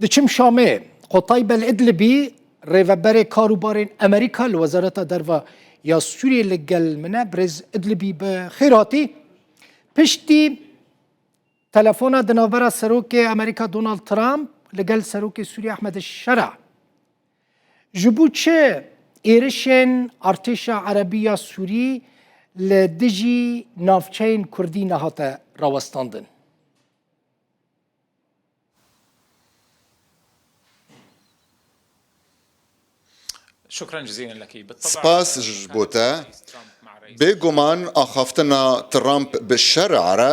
Diçim Şamê, Qotay Bel'idlibî, rêveberê kar û barên Emerîka li Wezareta Derva ya Sûriyê li gel min e. Birêz Idlibî bi xêr hatî. Piştî telefona di navbera Serokê Emerîka Donald Trump li gel Serokê Sûriyê Ahmed Şera ji bo çi êrişên artêşa Erebî ya Sûrî li dijî navçeyên Kurdî nehate rawestandin. Spas ji bo te. Bêguman axaftina Trump bi şer re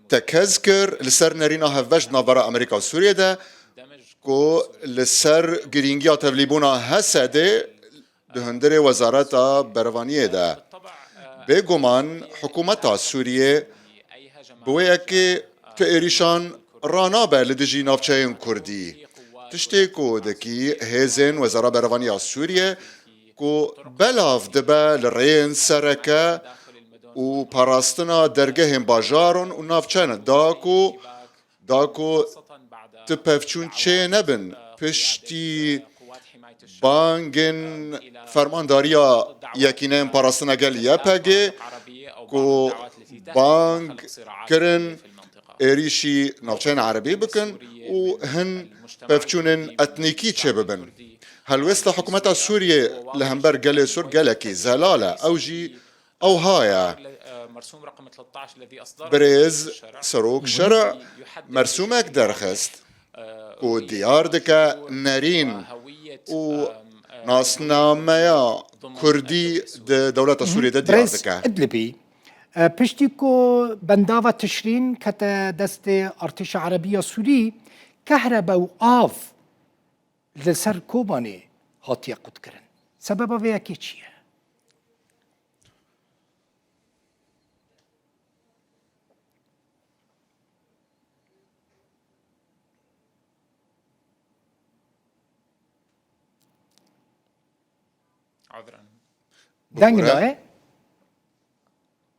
tekez kir li ser nerîna hevbeş di navbera Amerîka û Sûriyê de ku li ser girîngiya tevlîbûna Hesedê Di hundirê wezareta berevaniyê de bêguman hikûmeta Sûriyê bi wê yekê tu êrîşan ranabe li dijî navçeyên Kurdî, tiştê ku dikî hêzên Wezara Berevaniya Sûriyê ku belav dibe li rêyên sereke û parastina dergehên bajaron û navçen da ku Da ku tu pevçûn çê nebin piştî bangên Fermandariya Yekîneyên Parastina Gel, YPG, ku bang kirin êrîşî navçeyên Erebî bikin û hin pevçûnên etnîkî çêbibin. Helwêsta hikûmeta Sûriyê li hember gelê Sûr gelekî zelal e. Ew jî Ewha ye. Birêz Serok Şerî mersumek derxist ku diyar dike nerîn û nasnameya kurdî di dewleta Sûriyê de diyar dike. Birêz Îdlibî piştî ku bendava Tişrîn kete destê Artêşa Erebî ya Sûrî, kehrebe û av Li ser Kobanê hatiye qutkirin. Sebeba vê yekê çi ye? Deng daye.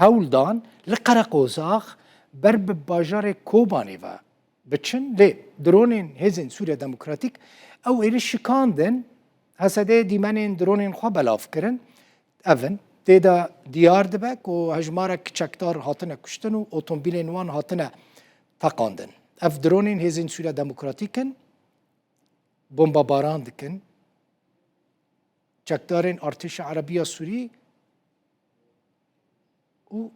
Hewl dan li Qereqozax ber bi bajarê Kobanê ve biçin lê dronên hêzên Sûriya Demokratîk ew êrîş şikandin. Hesedê dîmenên dronên xwe belav kirin. Ev in, tê de diyar dibe ku hejmarek çekdar hatine kuştin û otomobîlên wan hatine teqandin. Ev dronên hêzên Sûriya Demokratîk in, bombebaran dikin çekdarên Artêşa Erebî ya Sûrî. û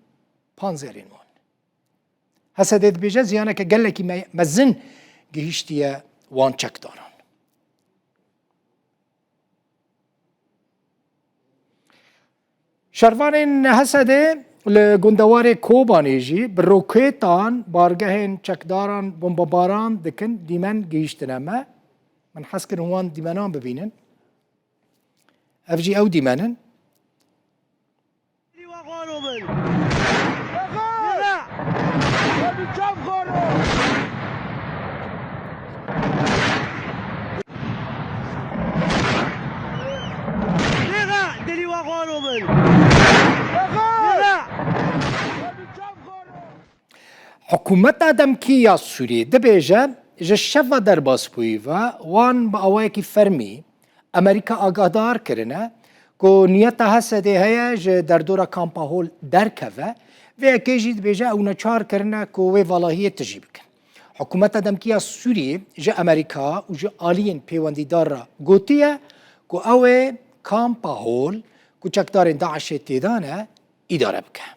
panzerên wan. Hesedê dibêje ziyaneke gelekî mezin gihîştiye wan çekdaran. Şervanên Hesedê li gundewarê Kobanê jî bi roketan bargehên çekdaran bombebaran dikin dîmen gihîştine me. Min hez kirin wan dîmenan bibînin. Ev jî ew dîmen in. Hikûmeta demkî ya Sûriyê dibêje ji şeva derbasbûyî ve wan bi awayekî fermî Amerîka agahdar kirine ku niyeta Hesedê heye ji derdora Kampa Hol derkeve, vê yekê jî dibêje ew neçar kirine ku wê valahiyê tijî bikin. Hikûmeta demkî ya Sûriyê ji Amerîka û ji aliyên pêwendîdar re gotiye ku ew ê Kampa Hol ku çekdarên DAIŞ'ê tê de ne, îdare bike.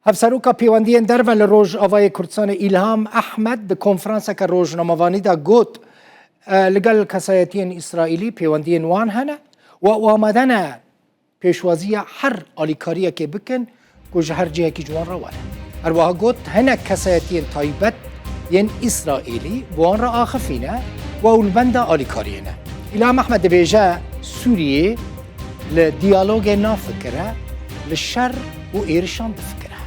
Hevseroka pêwendiyên derve li Rojavayê Kurdistanê Îlham Ehmed di konferanseke rojnamevanî de got li gel kesayetiyên Îsraîlî pêwendiyên wan hene û ew amade ne pêşwaziya her alîkariyekê bikin ku ji her cihekî ji wan re were. Her wiha got, hinek kesayetiyên taybet yên Îsraîlî bi wan re axifîne ku ew li benda alîkariyê ne. Îlham Ehmed dibêje, Sûriyê li diyalogê nafikire, li şer û êrişan difikire.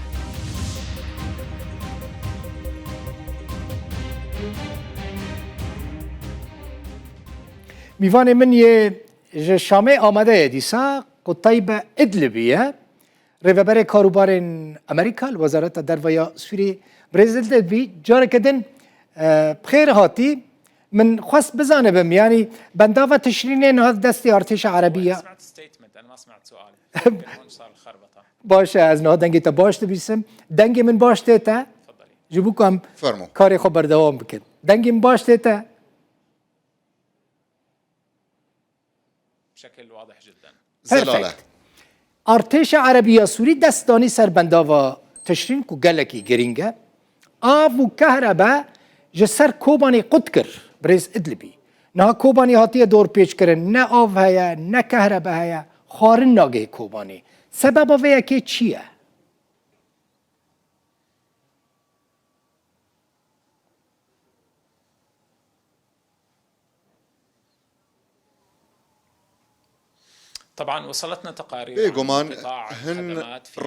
Mîvanê min yê Ji Şamê amade ye dîsa Qutaybe Idlibî ye. Rêveberê Karûbarên Amerîka li Wezareta Derve ya Sûriyê Birêz Idlibî careke din bi xêr hatî. Min xwest bizanibim yanî bendava tişrînê niha di destê artêşa erebî ye. Baş e ez niha dengê te baş dibîsim. Dengê min baş tê te? Ji bo ku em karê xwe berdewam bikin. Dengê min baş tê te? Perfect. Artêşa Erebî ya Sûrî dest danî ser bendava tişrîn ku gelekî girîng e. Av û kehrebe ji ser Kobanê qut kir. Birêz Idlibî. Niha Kobanê hatiye dorpêçkirin. Ne av heye, ne kehrebe heye. Xwarin nagihê Kobanê. Sebeba vê yekê çi ye? Bê guman hin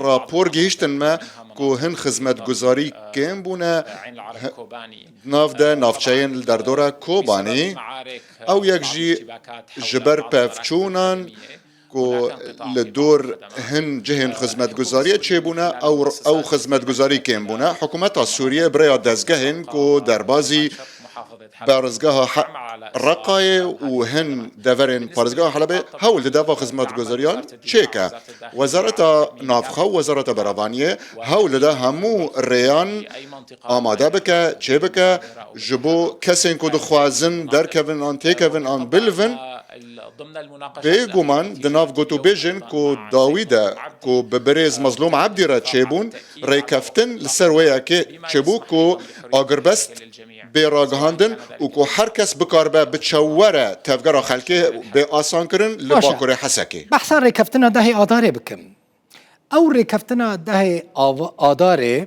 rapor gihîştin me ku hin xizmetguzarî kêm bûne di nav de navçeyên li derdora Kobanî ew yek jî ji ber pevçûnan ku li dor hin cihên xizmetguzariyê çêbûne û ew xizmetguzarî kêm bûne, hikûmeta Sûriyê bi rêya dezgehên ku derbazî parêzgeha Reqayê û hin deverên parêzgeha Helebê hewl dide van xizmetguzariyan çêke. Wezareta Navxwe û Wezareta Beravaniyê hewl dide hemû rêyan amade bike, çêbike ji bo kesên ku dixwazin derkevin an têkevin an bilivin. Bê guman di nav gotûbêjên ku dawî de ku bi birêz Mezlûm Ebdî re çêbûn rêkeftin li ser wê yekê çêbû ku agirbest bê ragihandin û ku her kes bikaribe bi çaw were tevgera xelkê bê asankirin li Bakurê Hesekê. Baş e, behsa rêkeftina dehê Adarê bikim. Ew rêkeftina dehê Adarê.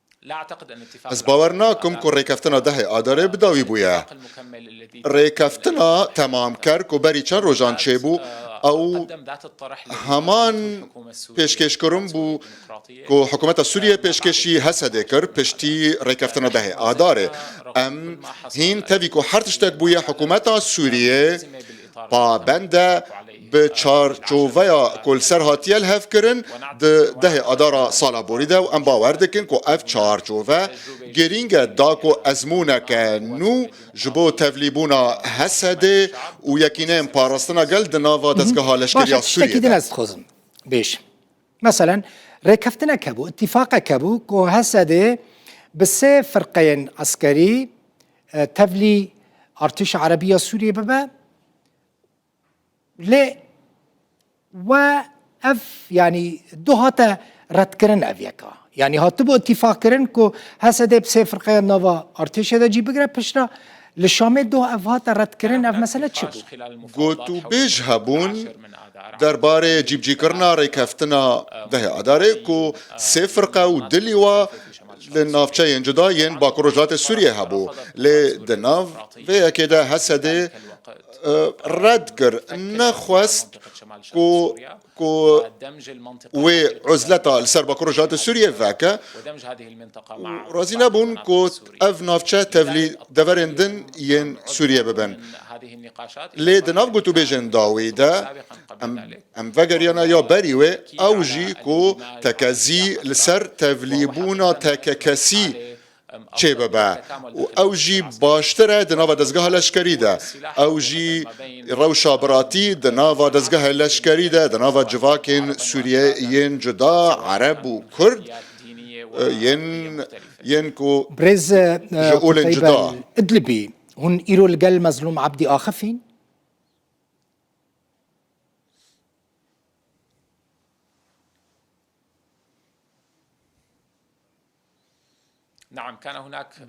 Ez bawer nakim ku rêkeftina dehê Adarê bi dawî bûye. Rêkeftina temamker ku berî çend rojan çêbû ew heman pêşkêşkirin bû ku hikûmeta Sûriyeyê pêşkêşî Hesedê kir piştî rêkeftina dehê Adarê. Em hîn tevî ku her tiştek bûye hikûmeta Sûriyê Pabende bi çarçoveya ku li ser hatiye li hev kirin di dehê Adara sala borî de û em bawer dikin ku ev çarçove girîng e da ku ezmûneke nû ji bo tevlîbûna Hesedê û yekîneyên parastina gel di nava dezgeha leşkerî ya Sûriyê de. Meselen rêkeftinek hebû, îtîfaqek hebû ku Hesedê bi sê firqeyên eskerî tevlî artêşa erebî ya Sûriyê bibe. Lê we ev yanî du hate redkirin ev yeka. Yanî hatibû îtîfaqkirin ku Hesedê bi sê firqeya nava artêşê de cî bigire piştre li Şamê doh ev hate redkirin ev mesele çi bû? Gotûbêj hebûn derbarê cîbicîkirina rêkeftina dehê Adarê ku sê firqe û du lîwa li navçeyên cuda yên Bakur Rojhilatê Sûriyê hebû lê di nav vê yekê de Hesedê red kir nexwest ku ku wê uzleta li ser Bakur Rojhilatê Sûriyê veke û razî nebûn ku ev navçe tevlî deverên din yên Sûriyê bibin. Lê di nav gotûbêjên da wî de em vegeriyane ya berî wê ew jî ku tekezî li ser tevlîbûna tekekesî çê bibe û ew jî baştir e di nava dezgeha leşkerî de, ew jî rewşa biratî di nava dezgehê leşkerî de, di nava civakên Sûriyê yên cuda, Ereb û Kurd yên ku ji olên cuda. Idlibî, Hûn îro li gel Mezlûm Ebdî Axif în?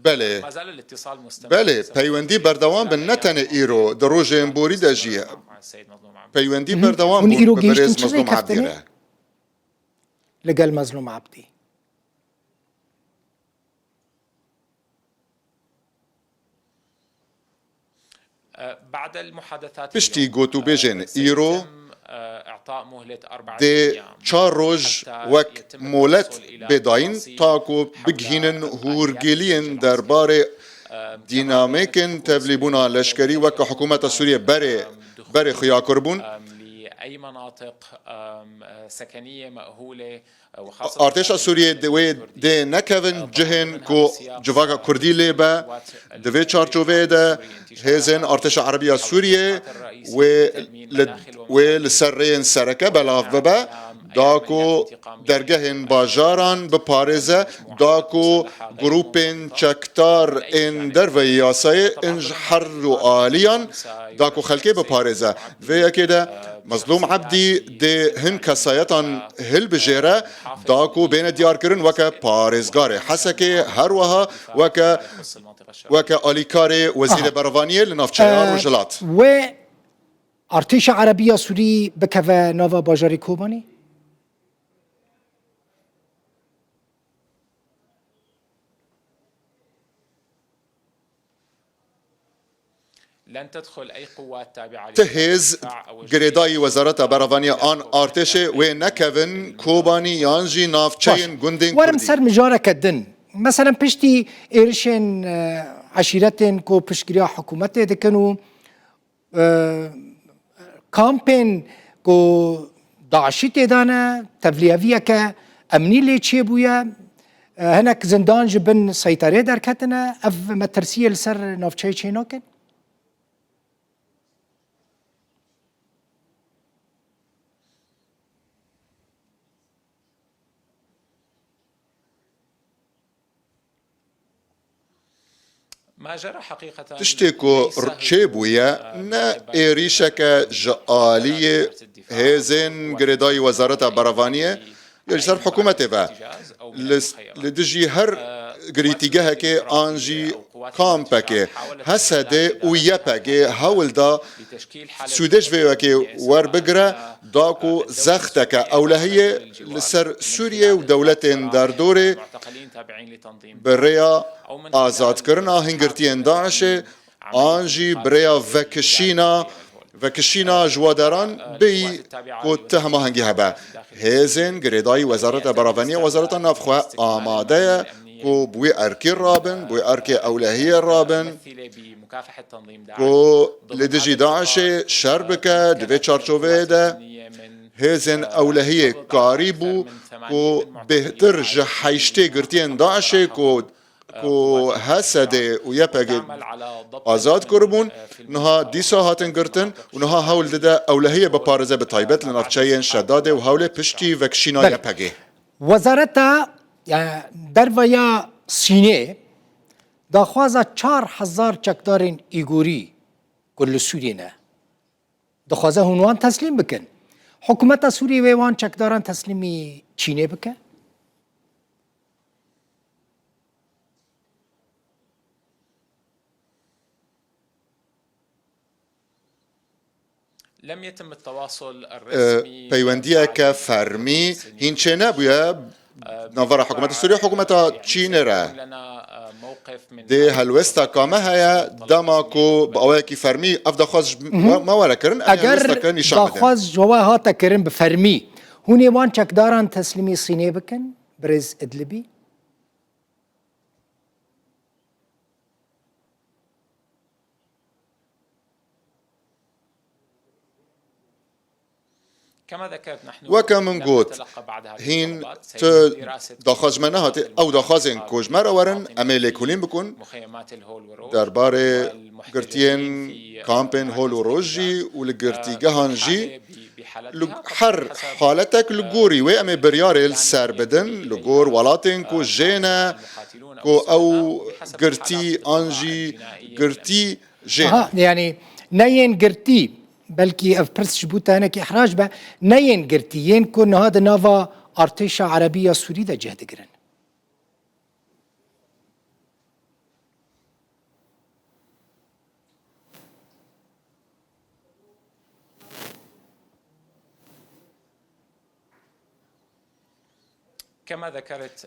Belê. Belê, peywendî berdewam bin ne tenê îro, di rojên borî de jî peywendî berdewam bûn bi birêz Mezlûm Ebdî re. Li gel Mezlûm Ebdî. Piştî gotûbêjên îro dê çar roj wek molet bê dayîn ta ku bigihînin hûrgiliyên derbarê dînamîkên tevlîbûna leşkerî wek ku hikûmeta Sûriyê berê berê xuya kirbûn. Artêşa Sûriyê di wê dê nekevin cihên ku civaka Kurdî lê be. Di vê çarçoveyê de hêzên Artêşa Erebî ya Sûriyê wê li ser rêyên sereke belav bibe da ku dergehên bajaran biparêze, da ku grûpên çekdar ên derveyî yasayê ên ji her ru aliyan da ku xelkê biparêze. Vê yekê de Mezlûm Ebdî dê hin kesayetan hilbijêre da ku bêne diyarkirin weke parêzgarê Hesekê her wiha weke weke alîkarê Wezîrê Berevaniyê li navçeya Rojhilat. Wê artêşa Erebî ya Sûrî bikeve nava bajarê Kobanî? Ti hêz, girêdayî Wezareta Beravaniya an artêşê wê nekevin Kobanî yan jî navçeyên gundên Kurdî. Werim ser mijareke din. Meselen piştî êrişên eşîretên ku piştgiriya hikûmetê dikin û. Kampên ku DAIŞ'î têda ne, tevliyeviyeke emnî lê çêbûye, hinek zindan ji bin seyterê derketine, ev me tirsiyê li ser navçeyê çê nakin? Tiştê ku rçê bûye ne êrîşeke ji aliyê hêzên girêdayî Wezareta Berevaniyê yê ji ser hikûmetê ve li dijî her girîtîgehekê an jî kampekê HSD'ê û YPG'ê hewl da sûdê ji vê yekê werbigire Da ku zexteke ewlehiyê li ser Sûriyê û dewletên derdorê bi rêya azadkirina hingirtiyên DAIŞ'ê an jî bi rêya vekişîna vekişîna ji we deran bêyî ku ti hemahengî hebe. Hêzên girêdayî Wezareta Beraveniya Wezareta Navxwe amade ye ku bi wî erkî re bin, bi wî erkê ewlehiyê re bin. Ku li dijî DAIŞ'ê şer bike di vê çarçoveyê de hêzên ewlehiyê karî bû ku bêhtir ji heyştê girtiyên DAIŞ'ê ku ku HSD û YPG azad kiribûn niha dîsa hatin girtin û niha hewl dide ewlehiyê biparêze bi taybet li navçeyên Şedadê û Hewlê piştî vekişîna YPG'ê. Wezareta Derve ya Sînê Daxwaza çar hezar çekdarên Îgûrî ku li Sûriyê ne, dixwaze hûn wan teslîm bikin. Hikûmeta Sûriyê wê wan çekdaran teslîmî Çînê bike? Peywendiyeke fermî hîn çênebûye navbera hikûmeta Sûriyê û hikûmeta Çînê re. Dê helwesta ka me heye dema ku bi awayekî fermî ev daxwaz ji me were kirin em ê helwesteke nîşan bidin. Eger daxwaz ji we hate kirin bi fermî hûn ê wan çekdaran teslîmî Sînê bikin birêz Îdlibî? Weke min got, hîn tu daxwaz ji me nehatî, ew daxwazên ku ji me re werin em ê lêkolîn bikin derbarê girtiyên kampên hol û roj jî û li girtîgehan jî li her haletek li gorî wê em ê biryarê li ser bidin li gor welatên ku jê ne ku ew girtî an jî girtî jê Aha, ne. yanî ne yên girtî, belkî ev pirs ji bo te hinekî ihrac be, ne yên girtî, yên ku niha di nava artêşa erebî ya Sûrî de cih digirin.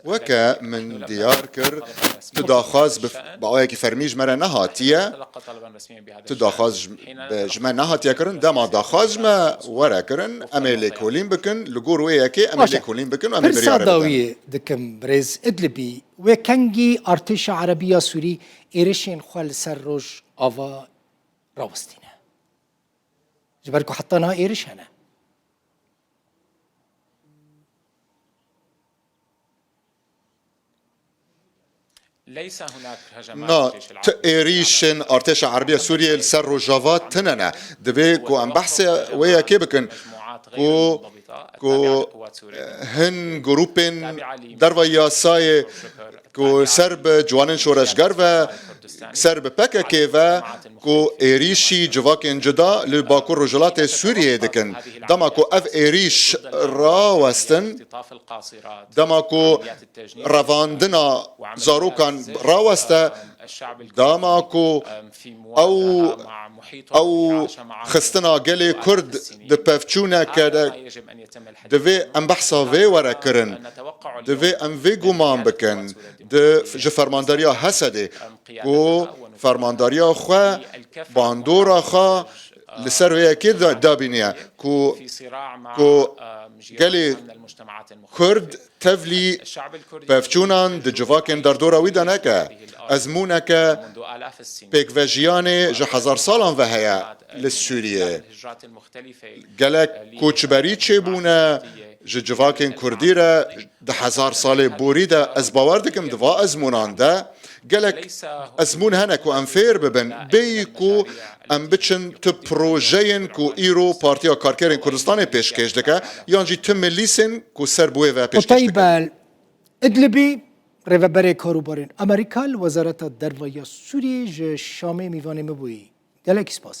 Weke min diyar kir, tu daxwaz bi awayekî fermî ji me re nehatiye, tu daxwaz ji me nehatiye kirin, dema daxwaz ji me were kirin, em ê lêkolîn bikin, li gor wê yekê em ê lêkolîn bikin û em ê biryarê bidin. Pirsa dawiyê dikim birêz Idlibî, wê kengî artêşa Erebî ya Sûrî êrişên xwe li ser Rojava rawestîne? Ji ber ku heta niha êriş hene. Na, tu êrîşên Artêşa Erbî ya Sûriyeyê li ser Rojava tune ne. Divê ku em behsê wê yekê bikin ku ku hin grûpên derva yasayê ku ser bi ciwanên şoreşger ve, ser bi PKK'ê ve ku êrîşî civakên cuda li Bakur Rojhilatê Sûriyeyê dikin. Dema ku ev êrîş rawestin, dema ku revandina zarokan raweste, dema ku Ew ew xistina gelê Kurd di pevçûne kere divê em behsa vê were kirin. Divê em vê guman bikin di ji fermandariya Hesedê ku fermandariya xwe bandora xwe li ser vê yekê dabîniye ku gelê Kurd Tevlî, pevçûnan di civakên derdora wî de neke. Ezmûneke pêkvejiyanê ji hezar salan ve heye li Sûriyê. Gelek koçberî çêbûne ji civakên kurdî re di hezar salê borî de. Ez bawer dikim di va ezmûnan de gelek ezmûn hene ku em fêr bibin bêyî ku Em biçin tu projeyên ku îro Partiya Karkerên Kurdistanê pêşkêş dike yan jî tu milîsên ku ser bi wê ve pêşkêş dikin. Qutayb el-Idlibî, rêveberê karûbarên Amerîka li Wezareta Derve ya Sûriyeyê ji Şamê mîvanê min bûyî. Gelekî spas.